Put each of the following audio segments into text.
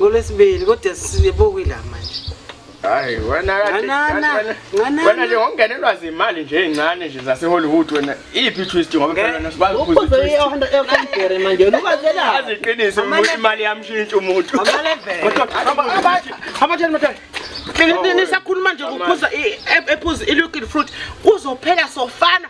ngolwesibili kodwa sibukile la manje hayi wena wena nje ngokungenelwa zimali nje ezincane nje zasehollywood wena iyiphi twist ngoba phela wena sibazi ukuziphuza manje lukazela aziqinise imali yamshintsha umuntu nisakhuluma nje kuphuza ephuza ilukile fruit kuzophela sofana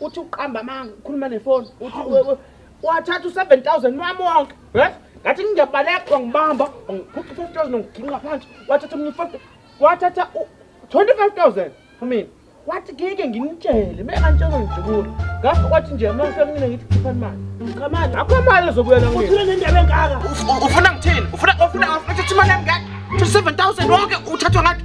uthi uqamba amanga ukhuluma nefoni uthi wathatha u-seven thousand wami wonke yes ngathi ngiyabaleka wangibamba wangiphupha i-five thousand wangiginqa phansi wathatha omunye i-five wathatha u-twenty-five thousand for mina wathi ngeke nginitshele me antshelo ngidubula ngakho wathi nje uma ngifike kumina ngithi khipha imali cha manje akho imali ezobuyela ngeke uthule nendaba engaka ufuna ngithini ufuna ufuna uthi imali yami ngeke 27000 wonke uthathwa ngathi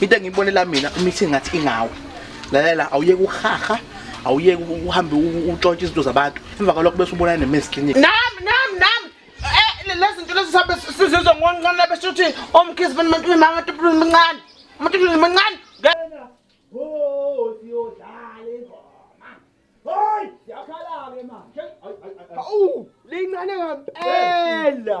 into engiyibonela mina umithi ngathi ingawe lalela awuyeke uhaha awuyeke uhambe utshontshe izinto zabantu emva kwalokho bese ubonana ne-men's clinic nam nam nam eh, lezi zinto lezi sabe sizizwa ngoncane besho ukuthi omkhizi bani umuntu uyimama umuntu uyimncane umuntu uyimncane Awu, lincane ngempela.